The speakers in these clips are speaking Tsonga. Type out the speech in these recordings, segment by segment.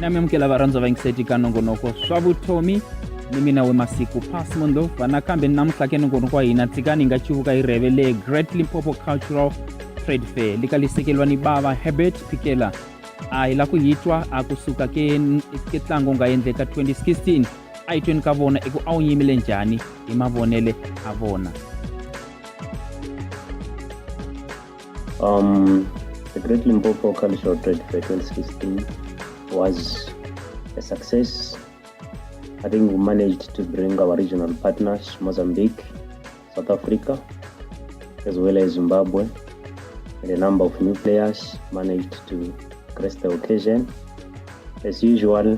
na mi amukela varhandzwa va yingiseti ka nongonoko swa vutomi ni mina we masiku pas mundo vanakambe ni namuntlha ke nongonoko wa hina tsikani hi nga chivuka hi rheve le great limpopo cultural trade fair lika lisekeliwa ni bava herbert phikela a hi la ku hi twa a kusuka ke ke tlango nga endleka 2016 a hi tweni ka vona i ku a wu yimile njhani hi mavonele a vona um the great limpopo cultural trade fair 2016 was a success i think we managed to bring our regional partners mozambique south africa as well as zimbabwe and a number of new players managed to grace the occasion as usual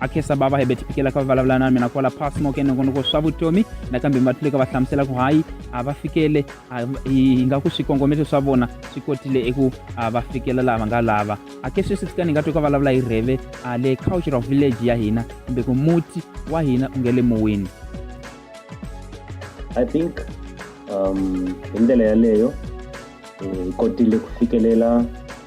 a khensa bava hi beti pikela ka va vulavula na mina kwala passmok enongonoko swa vutomi nakambe va tluleka va hlamusela ku hayi a va fikele hi nga ku swikongometo swa vona swi kotile eku va fikela laha va nga lava a ke sweswi tsika ni nga twi ka vulavula hi rheve a le cultural village ya hina kumbe ku muti wa hina u nge le mowini i think um hi ndlela yaleyo hi kotile ku fikelela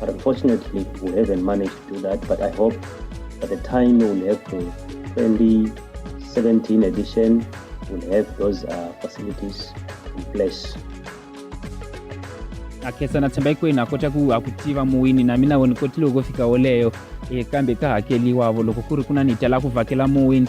But unfortunately, we haven't managed to do that. But I hope by the time we'll have the 2017 edition, we'll have those uh, facilities in place. akhesa na tshemba hikwenu a kota ku a ku tiva muwini na mina woni kotile ku fika woleyo e kambe ka hakeliwavo loko ku ri ku na ni tala ku vhakela muwini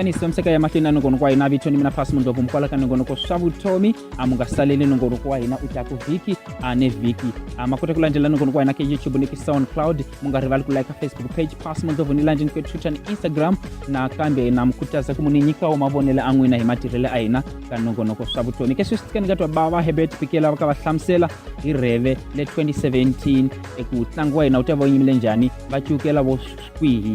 kanisi pamiseka ya mahlweni a nongonoko wa hina vitoni mina phasi mundlovu mukwala ka nongonoko swa vutomi a mu nga saleli nongonoko wa hina u ta ku vhiki a ne vhiki a ma kota ku landzela nongonoko wa hina ka youtube ni ki soundcloud mu nga rivali ku like facebook page pass mandzovo ni lanjeni ka twitter ni instagram nakambe na mi khutaza ku mu ni nyikawo mavonelo a n'wina hi matirhelo a hina ka nongonoko swa vutomi ke sweswi tikani ka twa bava hebert pikela va ka va hlamusela hi rheve le 2017 eku tlangu wa hina wu ta va wu yimile njhani va ciukela vo kwihi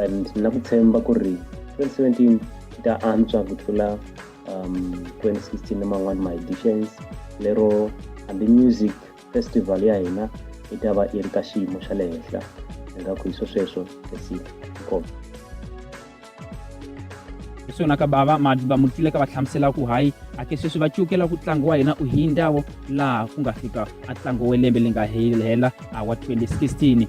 and na ku tshemba ku ri 2017 yi ta antswa ku tlula um, 2016 ni man'wani ma-editions lero hambi music festival ya hina yi ta va yi ri ka xiyimo xa le henhla hi nga ku hi swo sweswo esiti inkomo hi swona ka bava va mu twile ka va hlamusela ku hayi ake sweswi va cukela ku ntlangu wa hina u hi ndawo laha ku nga fika a ntlangu wa lembe li nga hela wa 2016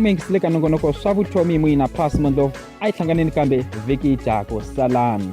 mi yingisile ka nongonoko swa vutomi muyina pass mondlovu a yi hlanganeni kambe vhiki dyako salani